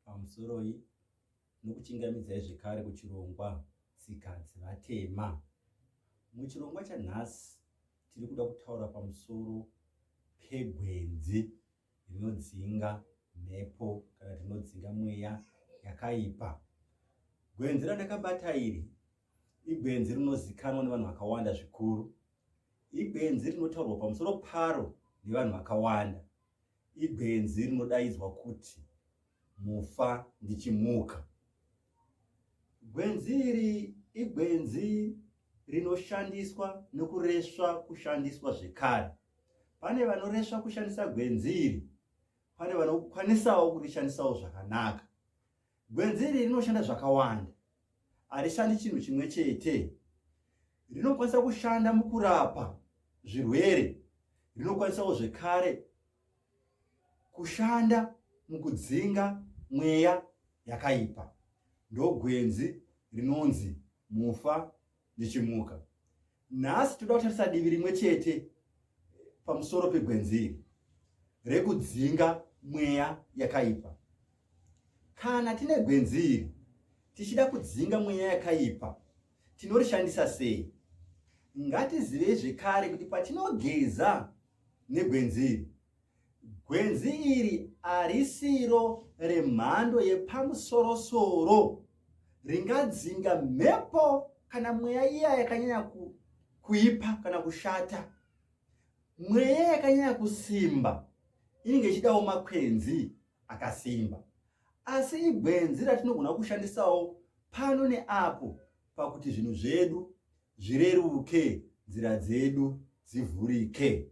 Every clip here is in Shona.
pamusoroi nokuchingamidzai zvekare kuchirongwa tsika dzevatema muchirongwa chanhasi tiri kuda kutaura pamusoro pegwenzi rinodzinga mhepo kana tinodzinga mweya yakaipa gwenzi randakabata iri igwenzi rinozikanwa nevanhu vakawanda zvikuru igwenzi rinotaurwa pamusoro paro nevanhu vakawanda ibenzi rinodaidzwa kuti mufa ndichimuka gwenzi iri igwenzi rinoshandiswa nokuresva kushandiswa zvekare pane vanoresva kushandisa gwenzi iri pane vanokwanisawo kurishandisawo zvakanaka gwenzi iri rinoshanda zvakawanda harishandi chinhu chimwe chete rinokwanisa kushanda mukurapa zvirwere rinokwanisawo zvekare kushanda mukudzinga mweya yakaipa ndogwenzi rinonzi mufa ndichimuka nhasi toda kutarisa divi rimwe chete pamusoro pegwenziri rekudzinga mweya yakaipa kana tine gwenziri tichida kudzinga mweya yakaipa tinorishandisa sei ngatizivei zvekare kuti patinogeza negwenziri Gwenzi iri harisiro remhando yepamusorosoro ringadzinga mhepo kana mweya iya yakanyanya kuipa kana kushata. Mweya yakanyanya kusimba inenge ichidawo makwenzi akasimba. Asi igwenzi ratinogona kushandisawo pano neapo pakuti zvinhu zvedu zvireruke, nzira dzedu dzivhurike.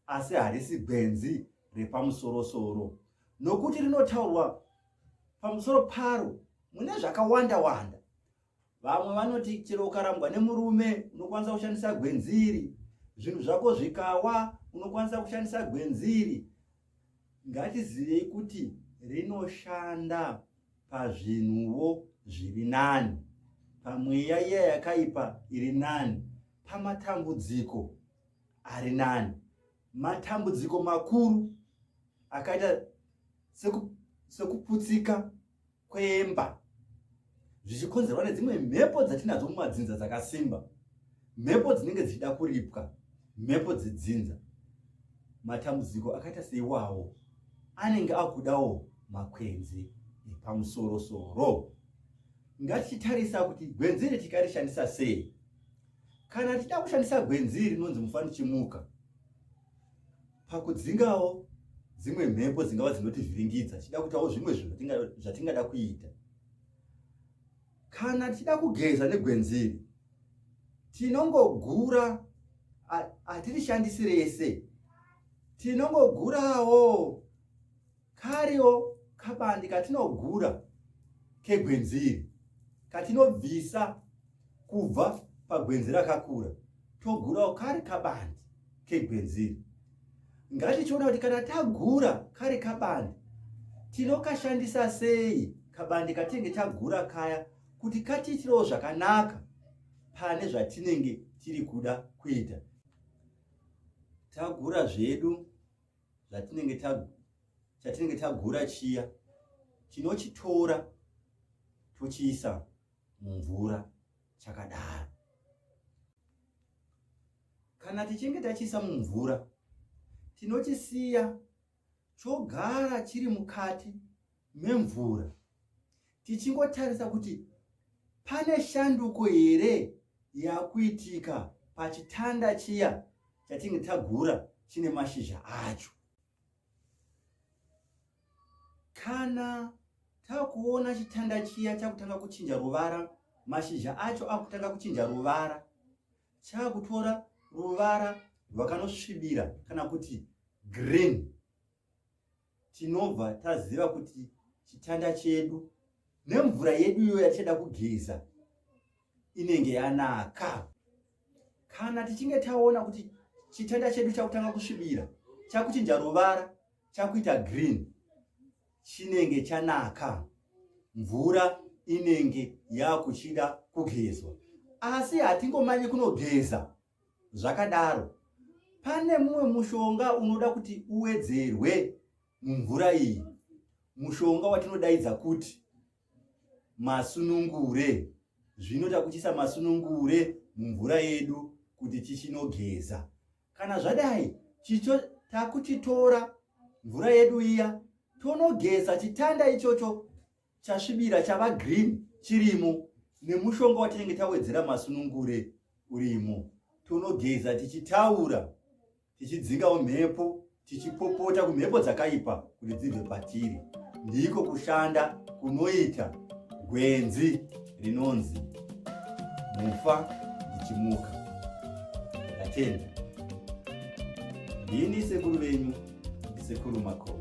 asi harisi gwenzi repamusorosoro nokuti rinotaurwa pamusoro paro mune zvakawanda wanda vamwe vanoti chero ukarambwa nemurume unokwanisa kushandisa gwenziri zvinhu zvako zvikawa unokwanisa kushandisa gwenziri ngatizivei kuti rinoshanda pazvinhuwo zviri nani pamweya iya yakaipa iri nani pamatambudziko ari nani matambudziko makuru akaita sekuputsika kwemba zvichikonzerwa nedzimwe mhepo dzatinadzo mumadzinza dzakasimba mhepo dzinenge dzichida kuripwa mhepo dzedzinza matambudziko akaita seiwawo anenge akudawo makwenzi epamusorosoro ngatichitarisa kuti gwenzi iri tikarishandisa sei kana tichida kushandisa gwenzi iri rinonzi mufanichimuka pakudzingawo dzimwe mhepo dzingava dzinotivhiringidza tichida kutawo zvimwe zvinhu zvatingada kuita kana tichida kugeza negwenzi iri tinongogura hatirishandisi rese tinongogurawo Kariwo kabandi katinogura kegwenzi iri katinobvisa kubva pagwenzi rakakura togurawo kari kabandi kegwenzi iri ngatichiona kuti kana tagura kari kabandi tinokashandisa sei kabandi katinenge tagura kaya kuti katiitirewo zvakanaka pane zvatinenge tiri kuda kuita tagura zvedu zvatinenge ta chatinenge tagura chiya tinochitora tochiisa mumvura chakadaro kana tichinge tachiisa mumvura tinochisiya chogara chiri mukati memvura tichingotarisa kuti pane shanduko here yakuitika pachitanda chiya chatinge tagura chine mashizha acho kana takuona chitanda chiya chakutanga kuchinja ruvara mashizha acho akutanga kuchinja ruvara chakutora ruvara rwakanosvibira kana kuti green tinobva taziva kuti chitanda chedu nemvura yedu iyo yatichada kugeza inenge yanaka kana tichinge taona kuti chitanda chedu chakutanga kusvibira chakuchinja ruvara chakuita green chinenge chanaka mvura inenge yakuchida kugezwa asi hatingomanyi kunogeza zvakadaro pane mumwe mushonga unoda kuti uwedzerwe mumvura iyi mushonga watinodaidza kuti masunungure zvino takuchisa masunungure mumvura yedu kuti chichinogeza kana zvadai chicho takuchitora mvura yedu iya tonogeza chitanda ichocho chasvibira chava green chirimo nemushonga watinenge tawedzera masunungure urimo tonogeza tichitaura tichidzingawo mhepo tichipopota kumhepo dzakaipa kuti dzibve patiri ndiko kushanda kunoita gwenzi rinonzi mufa ndichimuka ndatenda ndini sekuru venyu ndisekuru makoo